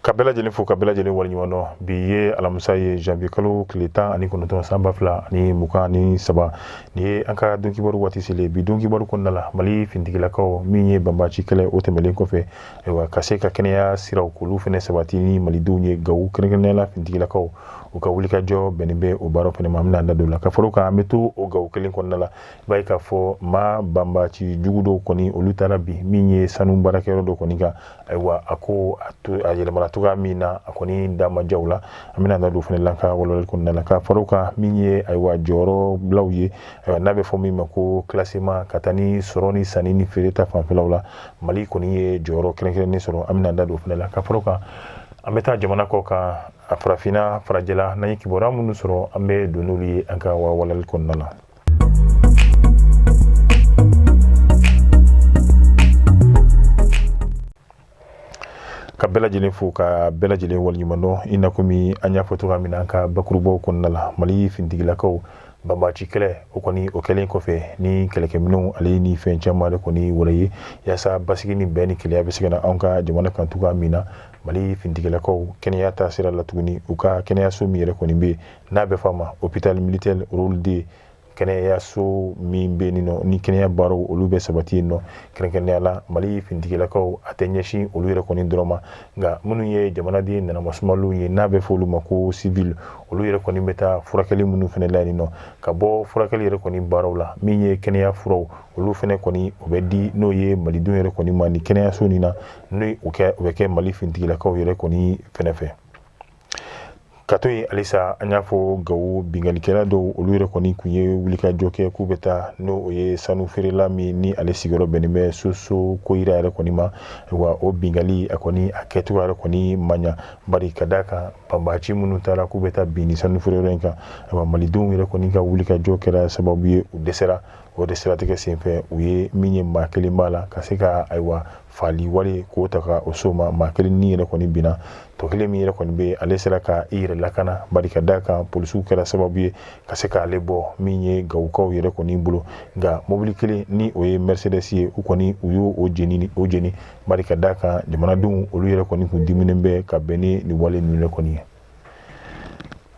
ka bɛɛ lajɛlen fo ka bɛɛ lajɛlen waleɲuman dɔn bi ye alamisa ye janvier kalo tile tan ani kɔnɔntɔn san ba fila ani mugan ni saba ni ye an ka donkibaru waati selen bi donkibaru kɔnɔna la mali fintigilakaw min ye banbaci kɛlɛ o tɛmɛlen kɔfɛ ayiwa ka se ka kɛnɛya siraw k'olu fɛnɛ sabati ni malidenw ye gawo kɛrɛnkɛrɛnnenya la fintigilakaw u ka wulikajɔ bɛnnen bɛ o baaraw fɛnɛ ma an bɛna da don la ka fara kan an bɛ to o gawo kelen kɔnɔna la i b'a ye k'a fɔ maa banbaci jugu dɔw kɔni olu taara bi min ye sanu baarakɛyɔrɔ dɔ kɔni kan ayiwa a ko a to a yɛlɛmana cogoya min na a kɔni da ma jaw la an bɛna da don fɛnɛ la ka walawalali kɔnɔna la ka fara kan min ye ayiwa jɔyɔrɔ bilaw ye ayiwa n'a bɛ fɔ min ma ko classement ka taa ni sɔrɔ ni sanni ni feere ta fanfɛlaw la mali kɔni ye jɔyɔrɔ kɛrɛnkɛrɛnnen sɔrɔ an bɛna da don fɛnɛ la ka fara kan an bɛ taa jamana kɔ kan a farafinna farajɛla n'an ye kibaruya minnu sɔrɔ an bɛ don n'olu ye an ka walawalali kɔnɔna la ka bɛɛ lajɛlen fo ka bɛɛ lajɛlen waleɲuman dɔn i n'a komi an y'a fɔ cogoya min na an ka bakurubaw kɔnɔna la mali fintigilakaw banbaci kɛlɛ o kɔni o kɛlen kɔfɛ ni kɛlɛkɛminɛnw ale ni fɛn caman de kɔni wɛrɛ ye yaasa basigi ni bɛn ni kelenya bɛ se ka na anw ka jamana kan cogoya min na mali fintigilakaw kɛnɛya ta sira la tuguni u ka kɛnɛyaso min yɛrɛ kɔni bɛ yen n'a bɛ fɔ a ma hôpital militaire rôle deux kɛnɛyaso min bɛ yen nɔ ni kɛnɛya baaraw olu bɛ sabati yen nɔ kɛrɛnkɛrɛnnenya la mali fintigilakaw a tɛ ɲɛsin olu yɛrɛ kɔni dɔrɔn ma nka minnu ye jamanaden nanamasumalenw ye n'a bɛ fɔ olu ma ko sivili olu yɛrɛ kɔni bɛ taa furakɛli minnu fɛnɛ la yen nɔ ka bɔ furakɛli yɛrɛ kɔni baaraw la min ye kɛnɛya furaw olu fɛnɛ kɔni o bɛ di n'o ye malidenw yɛrɛ kɔni ma ni kɛnɛyaso nin na n'o o kɛ o bɛ kɛ mali fintigilakaw yɛrɛ kɔni fɛnɛ fɛ ka to yen halisa an y'a fɔ gawo binkannikɛla dɔw olu yɛrɛ kɔni kun ye wulikajɔ kɛ k'u bɛ taa n'o ye sanu feerela min ni ale sigiyɔrɔ bɛnnen bɛ soso koyira yɛrɛ kɔni ma wa o binkali a kɔni a kɛcogo yɛrɛ kɔni ma ɲa bari ka d'a kan banbaci minnu taara k'u bɛ taa bin ni sanu feereyɔrɔ in kan ayiwa malidenw yɛrɛ kɔni ka wulikajɔ kɛra sababu ye u dɛsɛra o de siratigɛ senfɛ u ye min ye maa kelen b'a la ka se ka ayiwa faali wale k'o ta ka o so ma maa kelen ni yɛrɛ kɔni binna tɔ kelen min yɛrɛ kɔni bɛ ale sera ka i yɛrɛ lakana bari ka da kan polisiw kɛra sababu ye ka se k'ale bɔ min ye gawukaw yɛrɛ kɔni bolo nka mobili kelen ni o ye mercedes ye u kɔni u y'o jeni o jeni bari ka da kan jamanadenw olu yɛrɛ kɔni kun diminen bɛ ka bɛn ni nin wale ninnu yɛrɛ kɔni ye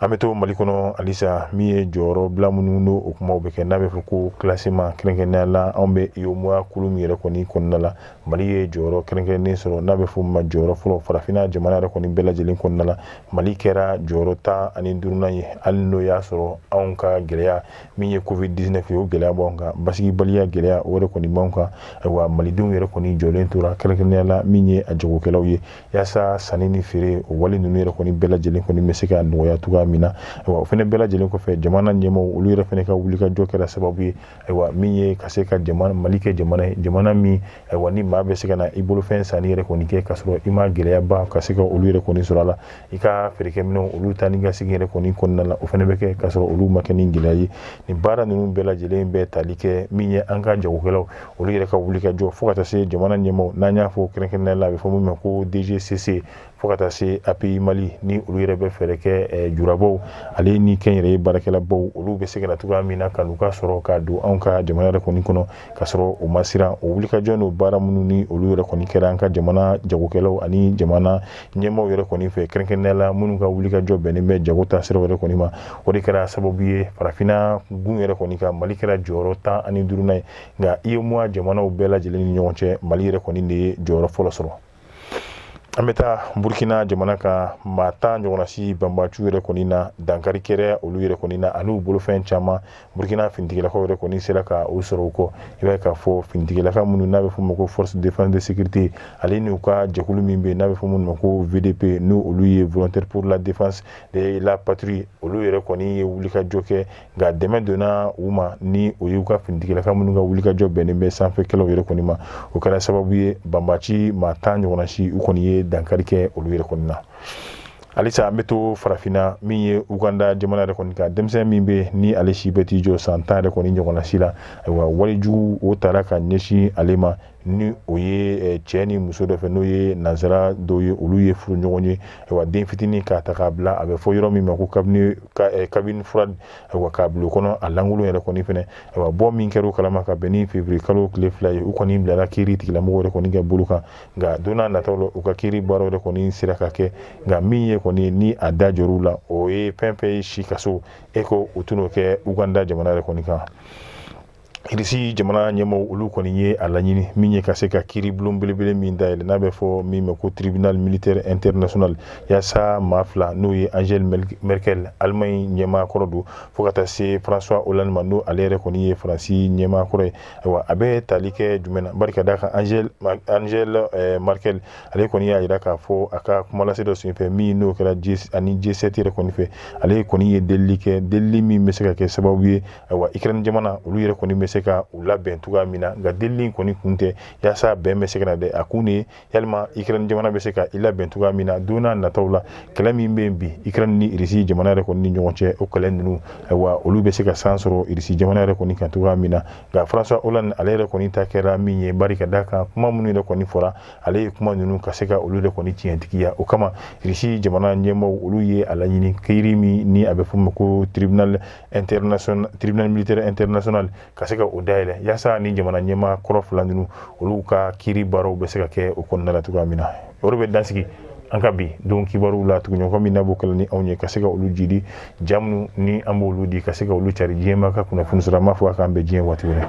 an bɛ to mali kɔnɔ halisa min ye jɔyɔrɔ bila minnu n'o kumaw bɛ kɛ n'a bɛ fɔ ko classement kɛrɛnkɛrɛnnenya la anw bɛ UEMOA kulu min yɛrɛ kɔni kɔnɔna la mali ye jɔyɔrɔ kɛrɛnkɛrɛnnen sɔrɔ n'a bɛ fɔ ma jɔyɔrɔ fɔlɔ farafinna jamana yɛrɛ kɔni bɛɛ lajɛlen kɔnɔna la mali kɛra jɔyɔrɔ tan ani duurunan ye hali n'o y'a sɔrɔ anw ka gɛlɛya min ye covid 19 ye o gɛlɛya b'an kan basigibaliya gɛlɛya o yɛrɛ kɔni b'an kan ayiwa malidenw yɛrɛ kɔni jɔlen tora kɛrɛnkɛrɛnnenya la min ye a jagokɛlaw ye yaasa sanni ni feere o wale ninnu yɛrɛ kɔni bɛɛ lajɛlen kɔni bɛ se ka nɔgɔya cogoya min na ayiwa o fɛnɛ bɛɛ lajɛlen kɔfɛ jamana ɲɛmaaw olu yɛrɛ fɛnɛ ka wulikajɔ kɛra sababu ye ayiwa min ye ka se ka jamana mali kɛ jamana ye jamana min ayiwa ni maa bɛ se ka na i bolofɛn sanni yɛrɛ kɔni kɛ ka sɔrɔ i ma gɛlɛyaba ka se ka olu yɛrɛ kɔni sɔrɔ a la i ka feerekɛminɛnw olu ta ni ka segin yɛrɛ kɔni kɔnɔna la o fɛnɛ bɛ kɛ ka sɔrɔ olu ma kɛ ni gɛlɛya ye nin baara ninnu bɛɛ lajɛlen bɛ tali kɛ min ye an ka jagokɛlaw olu yɛrɛ ka wulikajɔ fo ka taa se jamana ɲɛmaaw n'an y'a fɔ kɛrɛnkɛrɛnnenya la a bɛ fɔ min ma ko dgcc fo ka taa se api mali ni olu yɛrɛ bɛ fɛɛrɛ kɛ eh, julabaw ale ni kɛnyɛrɛye baarakɛlabaw olu bɛ se ka na cogoya min na ka n'u ka sɔrɔ ka don anw ka jamana yɛrɛ kɔni kɔnɔ ka sɔrɔ o ma siran o wulikajɔ n'o baara minnu ni olu yɛrɛ kɔni kɛra an ka jamana jagokɛlaw ani jamana ɲɛmaaw yɛrɛ kɔni fɛ kɛrɛnkɛrɛnnenya la minnu ka wulikajɔ bɛnnen bɛ jago ta sira yɛrɛ kɔni ma o de kɛra sababu ye farafinna gun yɛrɛ kɔni kan mali kɛra jɔyɔrɔ tan ani duurunan ye nka UEMOA jamanaw bɛɛ lajɛlen ni ɲɔgɔn cɛ mali yɛrɛ kɔni de ye jɔyɔrɔ fɔlɔ sɔrɔ an bɛ taa burukina jamana kan maa tan ɲɔgɔnna si banbaciw yɛrɛ kɔni na dankari kɛra olu yɛrɛ kɔni na ani u bolofɛn caman burukina finitigilakaw yɛrɛ kɔni sera ka u sɔrɔ u kɔ i b'a ye k'a fɔ finitigilaka minnu n'a bɛ fɔ ma ko force de défense de sécurité ale n'u ka jɛkulu min bɛ n'a bɛ fɔ minnu ma ko VDP n'o olu ye volontaire pour la défense de la patrie olu yɛrɛ kɔni ye wulikajɔ kɛ nka dɛmɛ donna u ma ni o y'u ka finitigilaka minnu ka wulikajɔ bɛnnen bɛ sanfɛkɛlɛ yɛrɛ kɔni ma o kɛra sababu ye banbaci maa tan ɲɔgɔnna si u kɔni ye dankari kɛ olu yɛrɛ kɔni na halisa an bɛ to farafinna min ye uganda jamana yɛrɛ kɔni kan denmisɛn min bɛ ni ale si bɛ t'i jɔ san tan yɛrɛ kɔni ɲɔgɔnna si la ayiwa walejugu o taara ka ɲɛsin ale ma ni o ye eh, cɛ ni muso dɔ fɛ n'o ye nansara dɔw ye olu ye furuɲɔgɔn ye wa den fitinin k'a ta k'a bila a bɛ fɔ yɔrɔ min ma ko cabine eh, cabine froide k'a bila o kɔnɔ a lankolon yɛrɛ kɔni fɛnɛ wa bɔ min kɛra o kalama ka bɛn ni février kalo tile fila ye u kɔni bilara kiiri tigilamɔgɔw yɛrɛ kɔni ka bolo kan nka don n'a nataw la u ka kiiri baaraw yɛrɛ kɔni sera ka kɛ nka min ye kɔni ni a da jɔr'u la o ye fɛn fɛn ye si kaso ye ko u tɛn'o kɛ uganda jamana yɛrɛ kɔni kan irisi jamana ɲɛmɔgɔw olu kɔni ye a laɲini min ye ka se ka kiiribulon belebele min dayɛlɛ n'a bɛ fɔ min ma ko tribunal militaire international yaasa maa fila n'o ye angela merkel alemaɲi ɲɛmaa kɔrɔ don fo ka taa se françois hollande ma n'o ale yɛrɛ kɔni ye faransi ɲɛmaa kɔrɔ ye ayiwa a bɛ tali kɛ jumɛn na bari ka d'a kan angel angel eh, merkel ale kɔni y'a jira k'a fɔ a ka kumalase dɔ senfɛ min n'o kɛra ani g7 yɛrɛ kɔni fɛ ale kɔni ye delili kɛ delili min bɛ se ka kɛ sababu ye ayiwa ikirani jamana olu yɛrɛ kɔni bɛ se ka u labɛn cogoya min na nka delili in kɔni kun tɛ yaasa bɛn bɛ se ka na dɛ a kun de yalima ikirani jamana bɛ se ka i labɛn cogoya min na don na nataw la kɛlɛ min bɛ yen bi ikirani ni irisi jamana yɛrɛ kɔni ni ɲɔgɔn cɛ o kɛlɛ ninnu ayiwa olu bɛ se ka san sɔrɔ irisi jamana yɛrɛ kɔni kan cogoya min na nka françois hollande ale yɛrɛ kɔni ta kɛra min ye bari ka d'a kan kuma minnu yɛrɛ kɔni fɔra ale ye kuma ninnu ka se ka olu yɛrɛ kɔni tiɲɛtigiya o kama irisi jamana ɲɛmɔgɔw olu ye a laɲini kiiri min ni a bɛ f'o ma ko tribunal international tribunal militaire international ka se ka o dayɛlɛ yaasa ni jamana ɲɛmaa kɔrɔ fila ninnu olu ka kiiri baaraw bɛ se ka kɛ o kɔnɔna la cogoya min na o de bɛ dansigi an ka bi don kibaruw la tuguɲɔgɔn min na b'o kɛlɛ ni anw ye ka se ka olu jidi ja minnu ni an b'olu di ka se ka olu cari diɲɛ maa ka kunnafoni sɔrɔ an b'a fɔ a k'an bɛn diɲɛ waati wɛrɛ